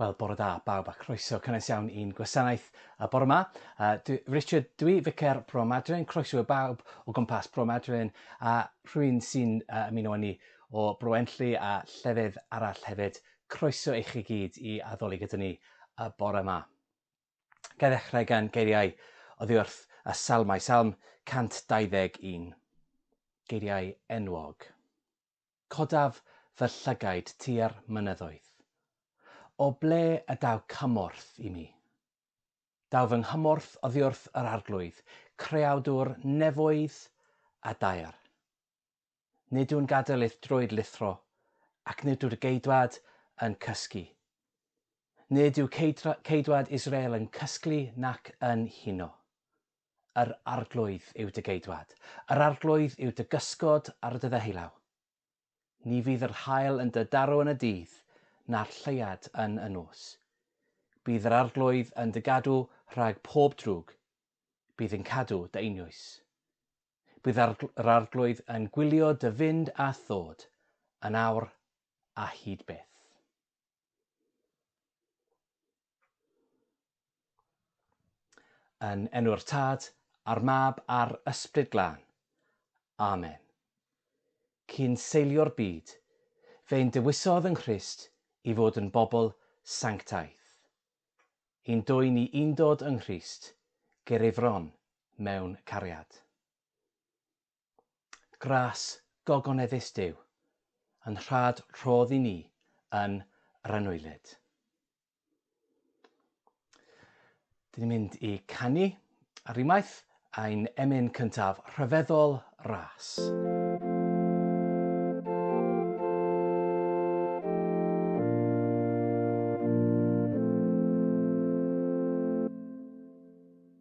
Wel, bore da, bawb, a croeso cynnes iawn i'n gwasanaeth y bore yma. Uh, dwi, Richard, dwi ficer Bro Madryn, croeso y bawb o gwmpas Bro Madryn, a rhywun sy'n uh, ymuno â ni o Bro Enlli a llefydd arall hefyd. Croeso i chi gyd i addoli gyda ni y bore yma. Gael ddechrau gan geiriau oddi wrth y salmau, salm 121. Geiriau enwog. Codaf fy llygaid tua'r mynyddoedd. O ble y daw cymorth i mi? Daw fy nghymorth oddiwrth yr Arglwydd, Creawdwr nefoedd a daear. Nid yw'n gadael i'th droed lithro, ac nid yw'r Geidwad yn cysgu. Nid yw Ceidwad Israel yn cysglu nac yn huno. Yr Arglwydd yw dy geidwad. Yr Arglwydd yw dy gysgod ar dy ddeheullaw. Ni fydd yr haul yn dy daro yn y dydd, na'r lleuad yn y nos. Bydd yr Arglwydd yn dy gadw rhag pob drwg, bydd yn cadw dy einioes. Bydd yr Arglwydd yn gwylio dy fynd a thod, yn awr a hyd byth. Yn enw'r Tad, a'r Mab, a'r Ysbryd Glân. Amen. Cyn seilio'r byd, fe'n dewisodd yng Nghrist i fod yn bobl sanctaidd. Yn dwy ni undod yng Nghrist, ger ei fron mewn cariad. Gras gogoneddus Duw, yn rhad rhodd i ni yn yr anwylyd. Dyn ni'n mynd i canu ar unwaith ein emyn cyntaf rhyfeddol ras.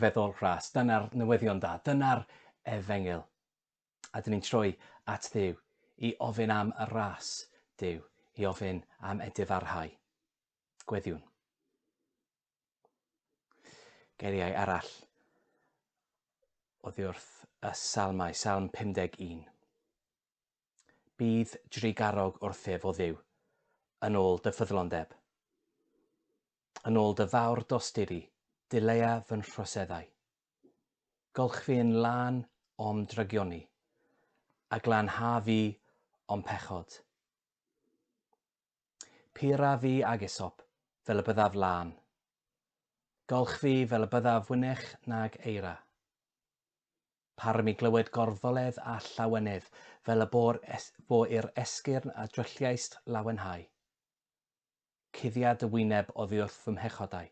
rhyfeddol rhas. Dyna'r newyddion da. Dyna'r efengyl. A dyn ni'n troi at ddiw i ofyn am y ras diw, i ofyn am edifarhau. Gweddiwn. Geiriau arall oddi wrth y salmau, salm 51. Bydd drugarog wrthyf, o ddiw, yn ôl dy ffyddlondeb. Yn ôl dy fawr dosturi, dileia fy nhroseddau. Golchfi yn lân o'm drygioni, a glanha fi o'm pechod. Pura fi ag Isop, fel y byddaf lân. Golch fi fel y byddaf wynech nag eira. Parym i glywed gorfoledd a llawenydd, fel y bo'r es, bo i'r esgyrn a drylliaist lawenhau. Cuddia dy wyneb oddiwrth fy mhechodau,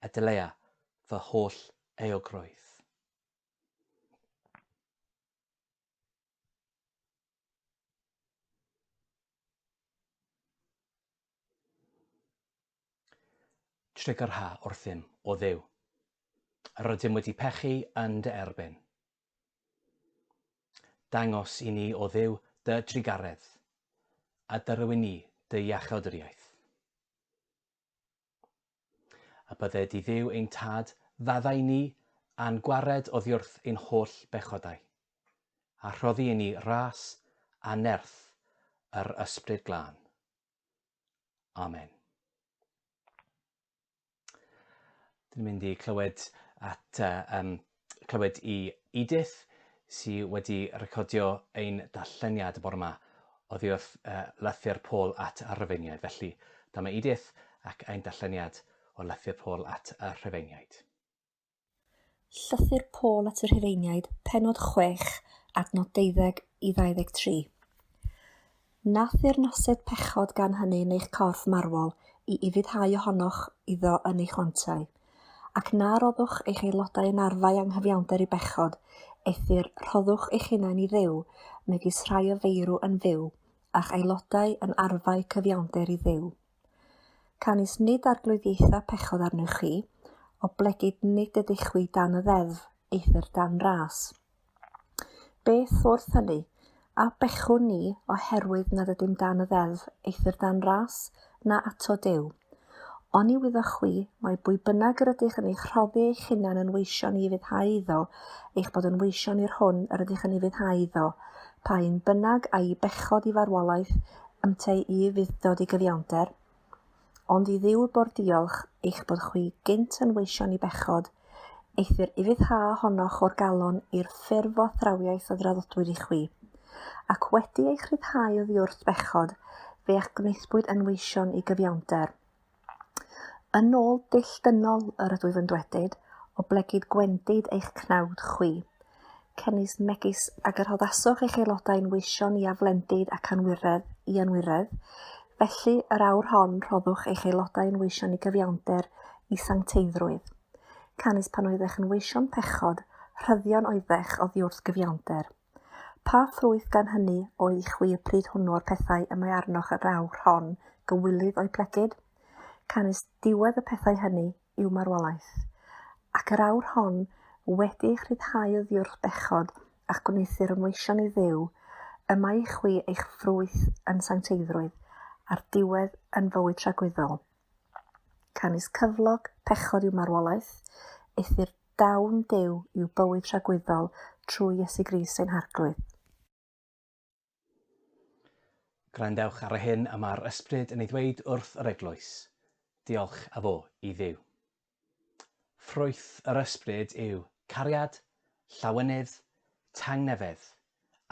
a dylea fy holl euogrwydd. Tryc yr ha wrthym, o Dduw. Rydym wedi pechu yn dy erbyn. Dangos i ni, o Dduw, dy drugaredd, a dyrywyn ni dy iachawdwriaeth. A bydde di Dduw ein Tad, faddau ni, a'n gwared oddiwrth ein holl bechodau, a rhoddi i ni ras a nerth yr Ysbryd Glân. Amen. Dwi'n mynd i clywed at uh, um, clywed i Edith, sy wedi recordio ein darlleniad bore yma oddi wrth uh, lythyr Paul at y Rhyfeiniaid. Felly, dyma Edith ac ein darlleniad o lythyr Paul at y Rhyfeiniaid. Llythyr Paul at y Rhyfeiniaid, penod 6, adnod 12 i 23. Na theyrnased pechod gan hynny yn eich corff marwol i ufuddhau ohonoch iddo yn eich lanciau, ac na roddwch eich aelodau yn arfau anghyfiawnder i bechod, eithr rhoddwch eich hunain i Dduw, megis rhai o feirw yn fyw, a'ch aelodau yn arfau cyfiawnder i Dduw. Canys nid arglwyddiaetha pechod arnoch chi, oblegid nid ydych chwi dan y ddeddf, eithr dan ras. Beth wrth hynny? A bechwn ni oherwydd nad ydym dan y ddeddf, eithr dan ras, na ato Duw? Oni wyddoch chwi, mai bwy bynnag yr ydych yn eich rhoddi eich hunan yn weision i ufuddhau iddo, eich bod yn weision i'r hwn yr ydych yn ufuddhau iddo, pa un bynnag a'i bechod i farwolaeth, ynteu i ufudd-dod i gyfiawnder? ond i Dduw bo'r diolch eich bod chwi gynt yn weision i bechod, eithr ufuddhâ honoch o'r galon i'r ffurf o thrawiaeth a draddodwyd i chwi. Ac wedi eich rhyddhau oddiwrth bechod, fe a'ch gwnaethpwyd yn weision i gyfiawnder. Yn ôl dull dynol yr ydwyf yn dwedyd, oblegid gwendid eich cnawd chwi, Cefnist megis a gyrhoddaswch eich aelodau'n weision i aflendid ac anwiredd i anwiredd, felly yr awr hon rhoddwch eich aelodau'n weision i gyfiawnder i sancteiddrwydd. Canys pan oeddech yn weision pechod, rhyddion oeddech oddiwrth gyfiawnder. Pa ffrwyth gan hynny oedd i chwi y pryd hwnnw o'r pethau y mae arnoch yr awr hon gywilydd o'u plegid? Canys diwedd y pethau hynny i'w marwolaeth, ac yr awr hon, wedi eich rhyddhau oddiwrth bechod a'ch gwneuthur ymleision i Dduw, y mae i chwi eich ffrwyth yn sancteiddrwydd, a'r diwedd yn fywyd tragwyddol. Canys cyflog pechod yw marwolaeth, eithr dawn Duw yw bywyd tragwyddol trwy Iesu Grist ein Harglwydd. Gwrandewch ar y hyn y mae'r Ysbryd yn ei ddweud wrth yr eglwys. Diolch a fo i Dduw. Ffrwyth yr Ysbryd yw cariad, llawenydd, tangnefedd,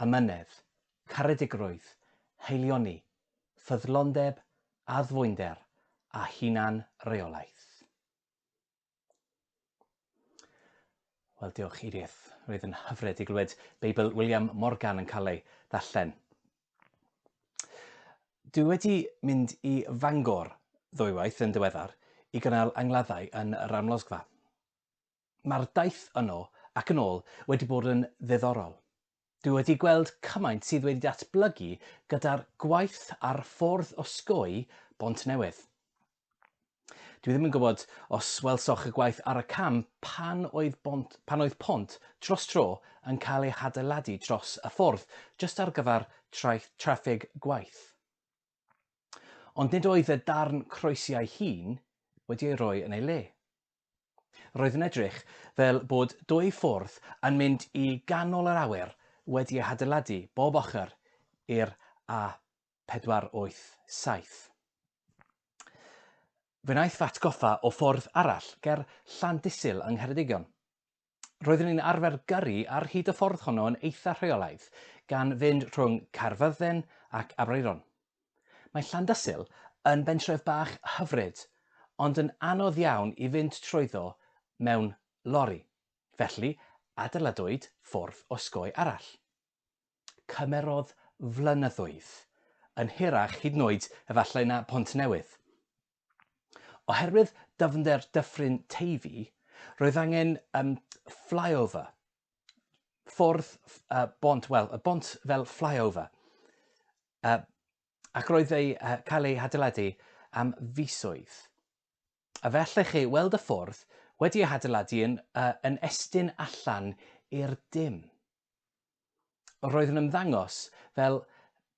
amynedd, caredigrwydd, haelioni, ffyddlondeb, addfwynder, a hunan-reolaeth. Wel, diolch, Edith. Roedd yn hyfryd i glywed Beibl William Morgan yn cael ei ddarllen. Dwi wedi mynd i Fangor ddwywaith yn diweddar i gynnal angladdau yn yr amlosgfa. Mae'r daith yno ac yn ôl wedi bod yn ddiddorol. Dwi wedi gweld cymaint sydd wedi datblygu gyda'r gwaith ar ffordd osgoi Bontnewydd. Dwi ddim yn gwybod os welsoch y gwaith ar y cam pan oedd, bont, pan oedd pont dros tro yn cael ei hadeiladu dros y ffordd, jyst ar gyfer traeth traffig gwaith. Ond nid oedd y darn croesiau hŷn wedi ei roi yn ei le. Roedd yn edrych fel bod dwy ffwrdd yn mynd i ganol yr awyr wedi eu hadeiladu bob ochr i'r A487. Fe wnaeth fy atgoffa o ffwrdd arall ger Llandysul yng Ngheredigion. roeddwn i'n arfer gyrru ar hyd y ffordd honno yn eitha rheolaidd, gan fynd rhwng Caerfyrddin ac Aberaeron. Mae Llandysul yn bentref bach hyfryd, ond yn anodd iawn i fynd trwyddo mewn lori, felly adeiladwyd ffordd osgoi arall. Cymerodd flynyddoedd, yn hirach hyd yn oed efallai na Pont Newydd. Oherwydd dyfnder Dyffryn Teifi, roedd angen um, flyover, ffordd uh, bont, wel, y bont fel flyover. Uh, ac roedd ei uh, cael ei hadeiladu am fisoedd. A fe allech chi weld y ffordd wedi ei hadeiladu yn, uh, yn estyn allan i'r dim. Roedd yn ymddangos fel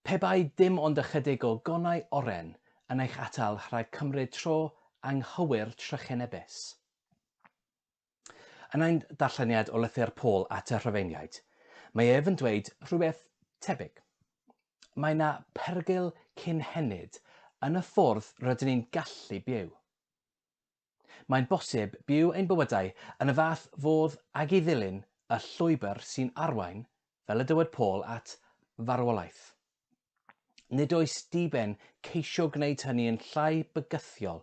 pe bai dim ond ychydig o gonau oren yn eich atal rhag cymryd tro anghywir trychinebus. Yn ein darlleniad o lythyr Paul at y Rhufeiniaid, mae ef yn dweud rhywbeth tebyg. Mae yna perygl cynhenid yn y ffordd rydyn ni'n gallu byw. Mae'n bosib byw ein bywydau yn y fath fodd ag i ddilyn y llwybr sy'n arwain, fel y dywed Paul, at farwolaeth. Nid oes diben ceisio gwneud hynny yn llai bygythiol,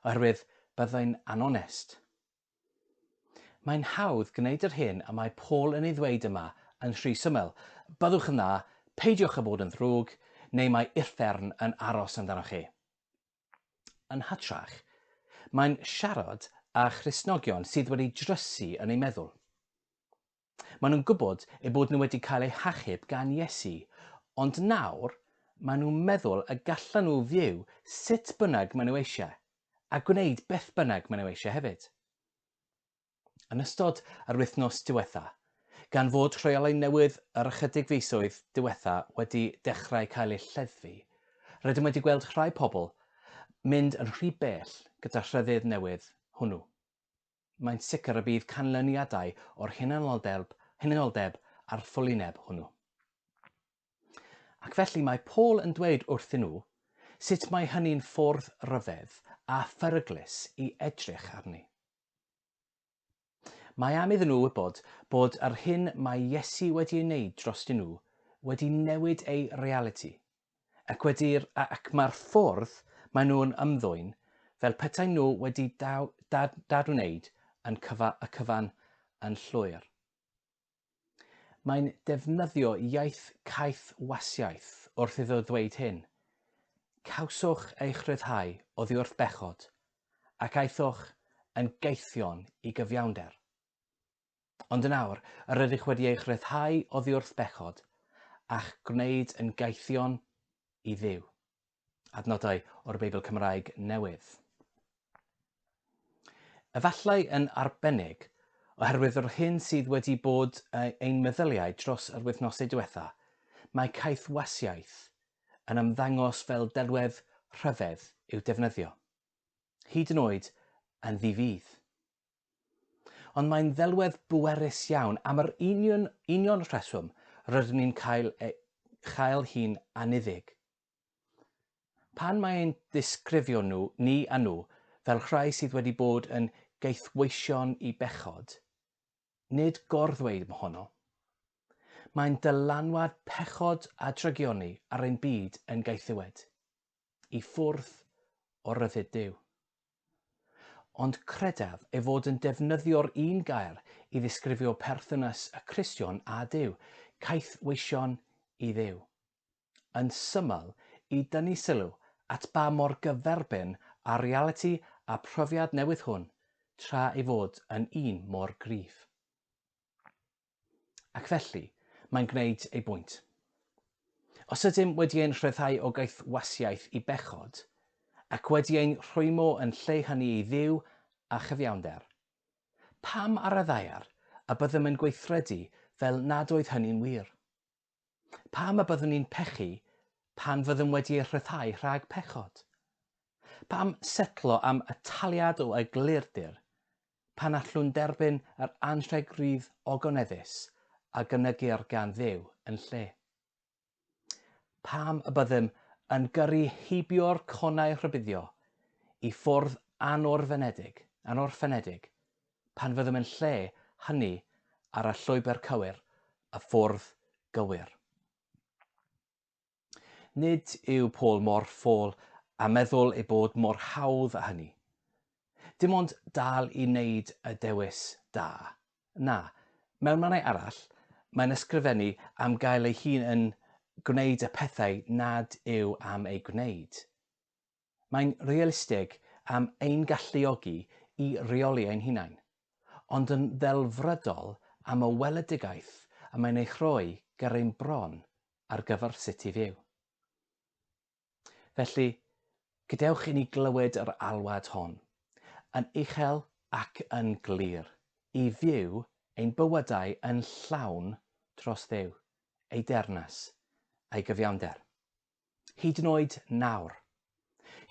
oherwydd byddai'n anonest. Mae'n hawdd gwneud yr hyn y mae Paul yn ei ddweud yma yn rhy syml, Byddwch yn dda, peidiwch â bod yn ddrwg, neu mae uffern yn aros amdanoch chi. Yn hytrach, mae'n siarad â Christnogion sydd wedi drysu yn eu meddwl. Maen nhw'n gwybod eu bod nhw wedi cael eu hachub gan Iesu, ond nawr maen nhw'n meddwl y gallan nhw fyw sut bynnag maen nhw eisiau, a gwneud beth bynnag maen nhw eisiau hefyd. yn ystod yr wythnos diwetha', gan fod rheolau newydd yr ychydig fisoedd diwetha' wedi dechrau cael eu lleddfu, rydym wedi gweld rhai pobl mynd yn rhy bell gyda'r rhyddid newydd hwnnw. Mae'n sicr y bydd canlyniadau o'r hunanoldeb, hunanoldeb a'r ffwlineb hwnnw. Ac felly mae Paul yn dweud wrthyn nhw sut mae hynny'n ffwrdd ryfedd a pheryglus i edrych arni. Mae am iddyn nhw wybod bod yr hyn mae Iesu wedi ei wneud drostyn nhw wedi newid eu realiti, ac wedi'r, ac mae'r ffordd maen nhw'n ymddwyn fel petaen nhw wedi dad, dad wneud yn cyfa, y cyfan yn llwyr. Mae'n defnyddio iaith caeth wasiaeth wrth iddo ddweud hyn. Cawsoch eich rhyddhau oddi wrth bechod, ac aethoch yn gaethion i gyfiawnder. Ond yn awr, yr ydych wedi eich rhyddhau oddi wrth bechod, a'ch gwneud yn gaethion i Dduw. Adnodau o'r Beibl Cymraeg Newydd. Efallai yn arbennig, oherwydd yr hyn sydd wedi bod ein meddyliau dros yr wythnosau diwetha, mae caethwasiaeth yn ymddangos fel delwedd rhyfedd i'w defnyddio, hyd yn oed yn ddi-fudd. Ond mae'n ddelwedd bwerus iawn am yr union, union rheswm rydyn ni'n cael, e, chael hi'n aniddig. Pan mae ein disgrifio nhw, ni a nhw, fel rhai sydd wedi bod yn gaethweision i bechod, nid gor-ddweud mohono. Mae'n dylanwad pechod a drygioni ar ein byd yn gaethiwed, i ffwrdd o ryddid Duw. Ond credaf ei fod yn defnyddio'r un gair i ddisgrifio perthynas y Cristion â Duw, caethweision i Dduw. yn syml i dynnu sylw at ba mor gyferbyn â'r realiti a phrofiad newydd hwn tra ei fod yn un mor gryf. Ac felly, mae'n gwneud ei bwynt. Os ydym wedi ein rhyddhau o gaethwasiaeth i bechod, ac wedi ein rhwymo yn lle hynny i Dduw a chyfiawnder, pam ar y ddaear y byddem yn gweithredu fel nad oedd hynny'n wir? Pam y byddwn ni'n pechu pan fyddwn wedi ei rhyddhau rhag pechod? Pam setlo am y taliad o eglurdir pan allwn derbyn yr anrheg rydd ogoneddus a gynygir gan Dduw yn lle? Pam y byddem yn gyrru heibio'r conau rhybuddio i ffwrdd anorfenedig, anorffenedig, pan fyddem yn lle hynny ar y llwybr cywir, y ffordd gywir. Nid yw Paul mor ffôl a meddwl ei bod mor hawdd â hynny. Dim ond dal i wneud y dewis da. Na, mewn mannau arall, mae'n ysgrifennu am gael ei hun yn gwneud y pethau nad yw am eu gwneud. Mae'n realistig am ein galluogi i reoli ein hunain, ond yn ddelfrydol am y weledigaeth y mae'n ei rhoi ger ein bron ar gyfer sut i fyw. Felly, gadewch i ni glywed yr alwad hon, yn uchel ac yn glir, i fyw ein bywydau yn llawn dros Dduw, ei deyrnas, a'i gyfiawnder. Hyd yn oed nawr.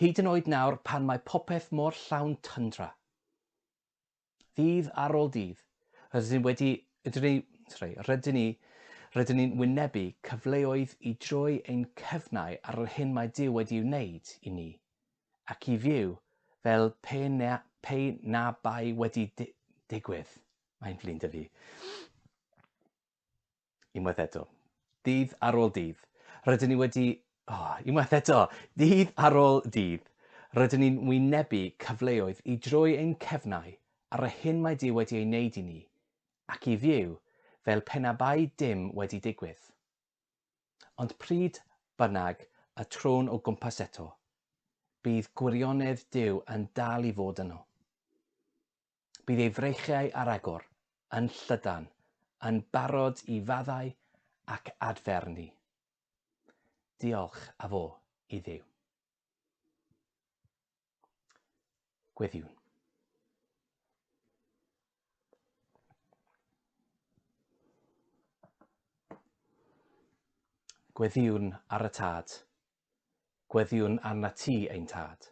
Hyd yn oed nawr pan mae popeth mor llawn tyndra. Ddydd ar ôl dydd, rydyn ni wedi, rydyn ni, sorry, rydyn ni, rydyn ni'n wynebu cyfleoedd i droi ein cyfnau ar yr hyn mae Dyw wedi ei wneud i ni, ac i fyw fel pe na, pe na bai wedi di, digwydd. Mae'n flin dyfu. Unwaith eto. Dydd ar ôl dydd. Rydyn ni wedi... O, oh, unwaith eto. Dydd ar ôl dydd. Rydyn ni'n wynebu cyfleoedd i droi ein cefnau ar y hyn mae Dyw wedi ei wneud i ni, ac i fyw fel pe na bai dim wedi digwydd. Ond pryd bynnag y trôn o gwmpas eto, bydd gwirionedd Dyw yn dal i fod yno. Bydd ei freichiau ar agor yn llydan, yn barod i faddau ac adfer ni. Diolch a fo i Dduw. Gweddïwn. Gweddïwn ar y tad. Gweddïwn arna ti, ein tad.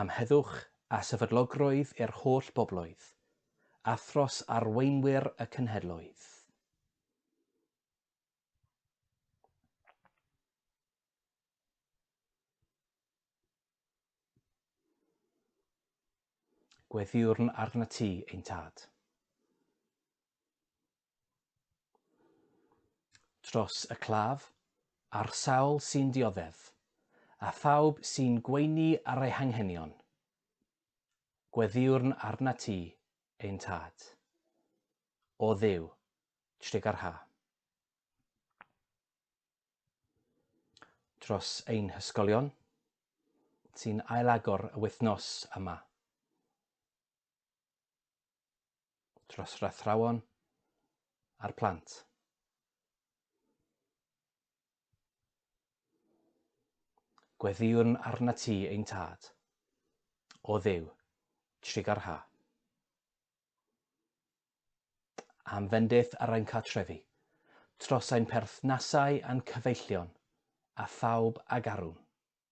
Am heddwch a sefydlogrwydd i'r holl bobloedd, a thros arweinwyr y cenhedloedd. Gweddïwrn arnat ti, ein Tad. Tros y claf, a'r sawl sy'n dioddef, a phawb sy'n gweini ar ei hanghenion. Gweddïwrn arnat ti, ein Tad. O Dduw, tregar ha. Tros ein hysgolion, sy'n ailagor y wythnos yma. dros rathrawon a'r plant. Gweddiwn arna ti ein tad, o ddew, trigar ha. Am fendith ar ein cartrefi, tros ein perthnasau a'n cyfeillion, a phawb ag arwn.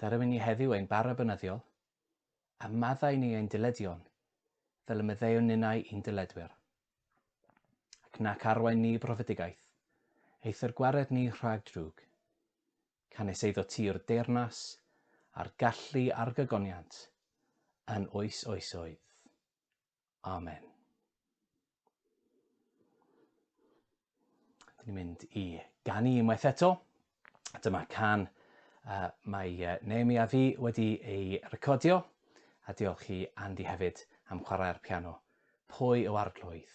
Darywyn ni heddiw ein bara bynyddiol, a maddau ni ein dyledion, fel y meddeuwn ninnau i'n dyledwyr. Ac nac arwain ni brofedigaeth, eithr gwared ni rhag drwg. Canys eiddo ti yw'r deyrnas, a'r gallu a'r gygoniant, yn oes oesoedd. Amen. Dyn ni'n mynd i ganu unwaith eto. Dyma can uh, mae uh, Naomi a fi wedi ei recordio. A diolch i Andy hefyd am chwarae'r piano. Pwy o arglwydd?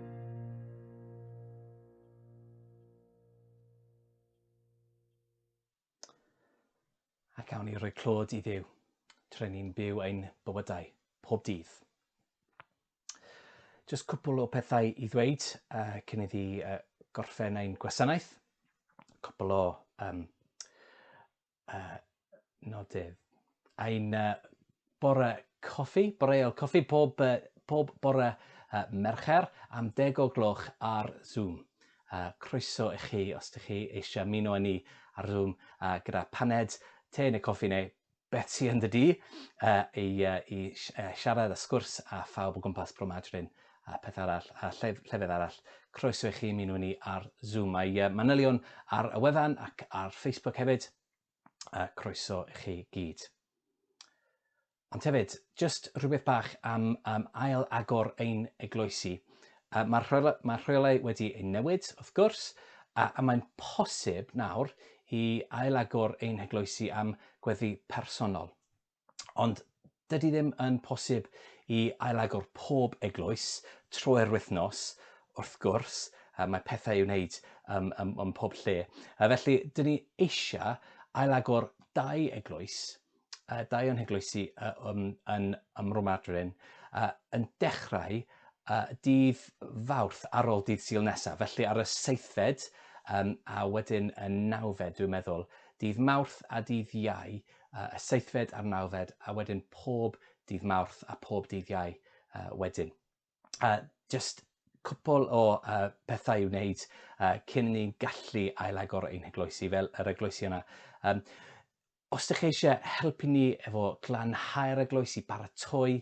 A gawn ni roi clod i ddiw, tre ni'n byw ein bywydau, pob dydd. Just cwpl o pethau i ddweud uh, cyn iddi uh, gorffen ein gwasanaeth. Cwpl o um, Uh, nodydd. Ein uh, bore coffi, boreol coffi, pob, uh, pob bore uh, Mercher am deg o gloch ar Zoom. Uh, croeso i chi os ydych chi eisiau muno â ni ar Zoom uh, gyda paned, te neu coffi neu beth sy'n yn dy di uh, i, uh, i uh, siarad a sgwrs a phawb o gwmpas Bro Madryn a peth arall, a lle, llefydd arall, croeso i chi ymuno ni ar Zoom. Mae uh, manylion ar y wefan ac ar Facebook hefyd. Uh, croeso i chi gyd. Ond hefyd, just rhywbeth bach am, am ail agor ein eglwysi. Uh, Mae'r rheolau, mae rheolau wedi ei newid, wrth gwrs, a, a mae'n posib nawr i ail agor ein heglwysi am gweddi personol. Ond dydy ddim yn posib i ailagor pob eglwys troi'r wythnos, wrth gwrs, mae pethau i'w wneud ym, ym, ym pob lle. Felly, dyn ni eisiau ailagor dau eglwys, dau o'n heglwysi yn, yn, yn Romadrin, yn dechrau dydd fawrth ar ôl dydd syl nesaf, felly ar y seithfed a wedyn y nawfed, dwi'n meddwl, dydd mawrth a dydd iau, y seithfed a'r nawfed, a wedyn pob dydd Mawrth a phob dydd Iau wedyn. Jyst cwpl o pethau i'w wneud cyn ni gallu ailagor ein hegloesi fel yr egloesi yna. Os ydych chi eisiau helpu ni efo glanhau'r egloesi, baratoi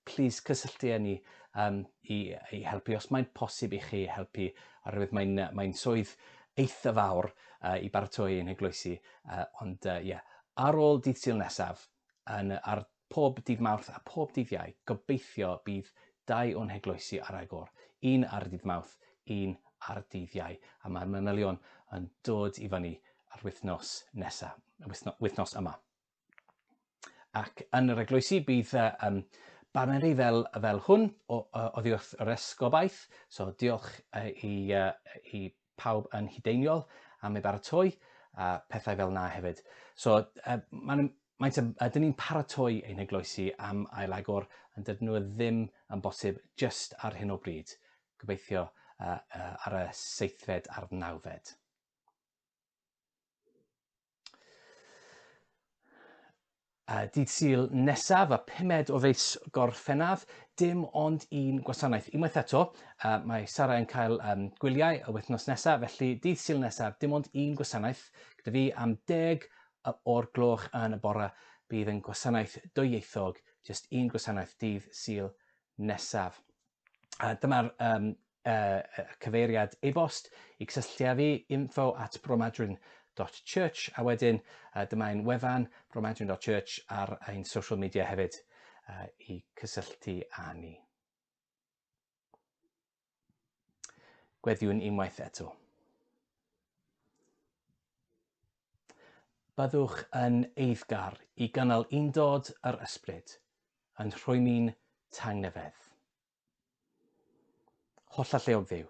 plîs cysylltu â ni yym i i helpu os mae'n posib i chi helpu oherwydd mae'n yy mae'n swydd eitha fawr yy i baratoi ein heglwysi yy ond yy ie ar ôl dydd Sul nesaf yn yy ar pob dydd Mawrth a pob dydd Iau gobeithio bydd dau o'n heglwysi ar agor, un ar dydd Mawrth, un ar dydd Iau a mae'r manylion yn dod i fyny yr wythnos nesa, wythno- wythnos yma. Ac yn yr eglwysi bydd uh, um, baneri fel, fel hwn o, uh, oddi wrth yr esgobaeth. So diolch uh, i, uh, i pawb yn hudeiniol am ei baratoi a pethau fel na hefyd. So uh, mae'n Mae'n yn, ydyn ni'n paratoi ein eglwysi am ail agor, yn dydyn nhw ddim yn bosib just ar hyn o bryd. Gobeithio uh, uh, ar y seithfed a'r nawfed. Uh, dydd Sul nesaf, a pumed o feis Gorffennaf, dim ond un gwasanaeth. Unwaith eto, uh, mae Sara yn cael um, gwyliau y wythnos nesaf, felly dydd Sul nesaf, dim ond un gwasanaeth gyda fi am deg o'r gloch yn y bore. Bydd yn gwasanaeth dwyieithog, jyst un gwasanaeth dydd Sul nesaf. Uh, Dyma'r um, yy cyfeiriad e-bost i cysylltu â fi, info at bromadwyn dot church, a wedyn yy dyma ein wefan, bromadwyn dot church, ar ein social media hefyd yy i cysylltu â ni. Gweddiwn unwaith eto. Byddwch yn eiddgar i gynnal undod yr ysbryd, yn rhwymi'n tangnefedd. Holl alleog Dduw,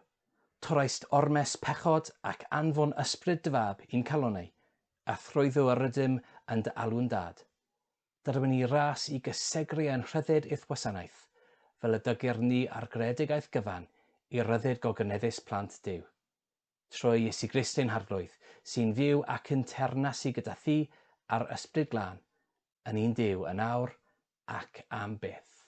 torraist ormes pechod ac anfon Ysbryd dy Fab i'n calonnau, a thrwyddo yr ydym yn dy alw'n Dad. Derwen ni ras i gysegru ein rhyddid i'th wasanaeth, fel y dygir ni ar greadigaeth gyfan i ryddid gogyneddus plant Duw. Trwy Iesu Grist ein Harglwydd, sy'n fyw ac yn teyrnasu gyda thi a'r Ysbryd Glân, yn un Duw yn awr ac am byth.